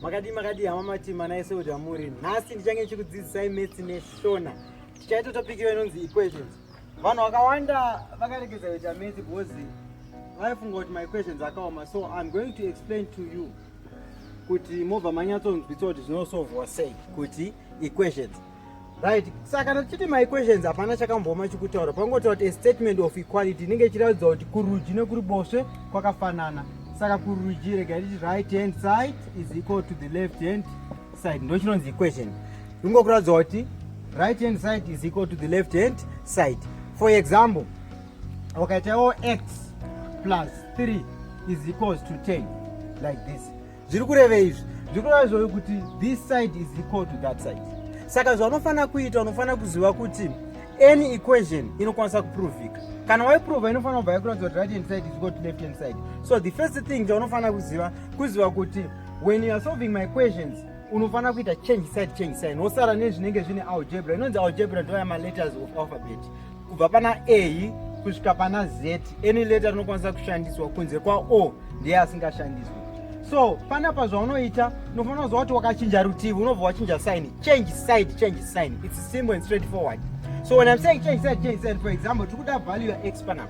makadii makadii hama matima naye seudi amuri nhasi ndichange ndichikudzidzisai metsi neshona tichaita topic iyo inonzi equations vanhu vakawanda vakaregedza kuita metsi because vaifunga kuti maequations akaoma so iam going to explain to you kuti mobva manyatsonzwiswa kuti zvinosovhwa sei kuti equations right saka kana tichiti maequations hapana chakambooma chikutaura pangotaura kuti a statement of equality inenge ichiratidza kuti kurudyi nekuri boswe kwakafanana saka kurudyi rega riti right hand side is equal to the left hand side ndo chinonzi equation ingokuratidza kuti right hand side is equal to the left hand side for example wakaitawo x plus 3 is equals to 10 like this zviri kurevei izvi zviri kureva izvoyo kuti this side is equal to that side saka zvaunofanira kuita unofanira kuziva kuti any equation inokwanisa kuprovika kana waiprova inofanira kubva yakuratidza kuti right hand side is equal to left hand side so the first thing chaunofanira kuziva kuziva kuti when you are solving my questions unofanira kuita change side change side wosara nezvinenge zvine algebra inonzi algebra ndoya maletters of alphabet kubva pana a kusvika pana z any letter rinokwanisa kushandiswa kunze kwa o ndiye asingashandiswi so panapa zvaunoita unofanira kuziva kuti wakachinja rutivi unobva wachinja sign change side change sign its simple and straight forward so when im saying change side change side for example tiri kuda value yax panapa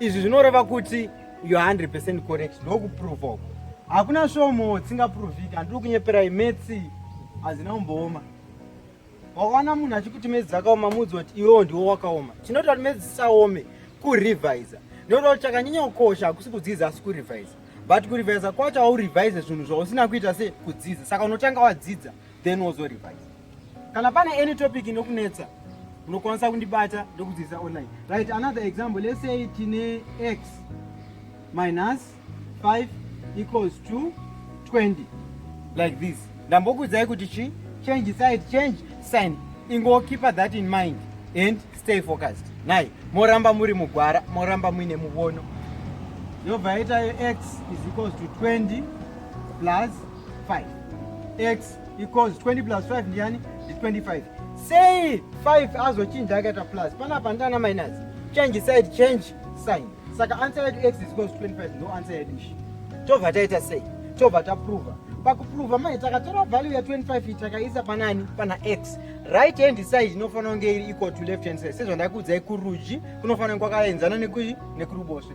izvi zvinoreva kuti you 100 correct ndokuprova uko hakuna svomo tsingaprovika handiri kunyeperai metsi hazina kumbooma wakaona munhu achikuti medzi dzakaoma mudzi wati iwewo ndiwo wakaoma chinoita kuti medzi dzisaome kurevisa nekuti kuti chakanyanya kukosha hakusi kudzidza asi kurevisa but kurevisa kwacho haurevise zvinhu zvausina kuita se kudzidza saka unotanga wadzidza then wozo revise kana pane any topic inokunetsa unokwanisa kundibata ndokudzidzisa online right another example let's say tine x minus 5 equals to 20 like this ndambokudzai kuti chi change side change sign ingo keep that in mind and stay focused nai moramba muri mugwara moramba muine muvono yobva yaitayo x is equals to 20 plus 5 x equals 20 plus 5 ndiyani ndi 25 sei 5 azochinja akaita plus panapa ndana minus change side change sign saka answer yedu x is equals 25 ndo answer yedu ishi tobva taita sei tobva taprova pakuprova mai takatora value ya 25 takaisa panani pana x right hand side inofanira kunge iri equal to left hand side sezvandakuudzai kurudyi kunofanira kwakaenzana nekuruboshwe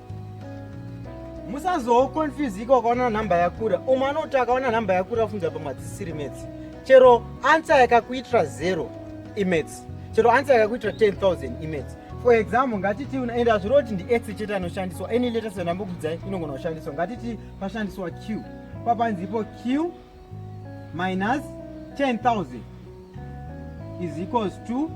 musazoconfusika ukaona nhamba yakura umwe anoti akaona nhamba yakura afunza pamwe hadzisiri metsi chero ansa yakakuitira zero imetsi chero ansa yakakuitira 10000 imetsi for example ngatiti and hazviro kuti ndietse chete anoshandiswa any letters yandambokudzai inogona kushandiswa ngatiti pashandiswa q papanzipo q minus 10000 is equals to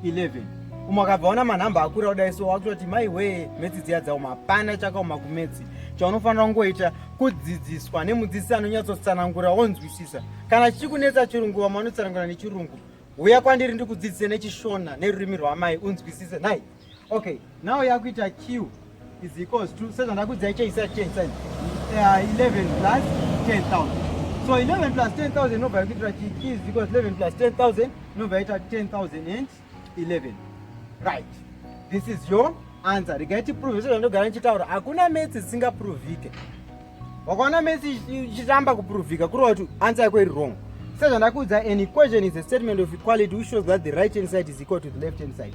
11 umwe akabva ona manhamba akura kudai so wakutoti mai wee metsi dziya dzauma hapana chakaoma kumetsi chaunofanira kungoita kudzidziswa nemudzidzisi anonyatsotsanangura wonzwisisa kana chichikunetsa chirungu vamwe vanotsanangura nechirungu huya kwandiri ndikudzidzise nechishona nerurimi rwamai unzwisise nhai okay now yakuita q is equals to sezvandakudzai cheisati cheisati uh, 11 plus 10000 so 11 plus 10000 inobva yakuitira chi q is equals 11 plus 10000 inobva yaita 10011 right this is your answer regai tiprove sezvandogara ndichitaura hakuna metsi dzisingaprovhike wakaona metsi ichitamba kuprovhika kureva kuti answer yako iri wrong sezvandakuudza an equation is a statement of equality which shows that the right hand side is equal to the left hand side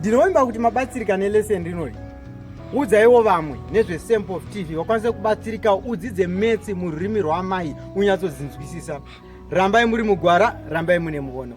ndinovimba kuti mabatsirika neleseni rinori udzaiwo vamwe nezvesamp of tv vakwanise kubatsirika udzidze metsi mururimi rwaamai unyatsodzinzwisisa rambai muri mugwara rambai mune muono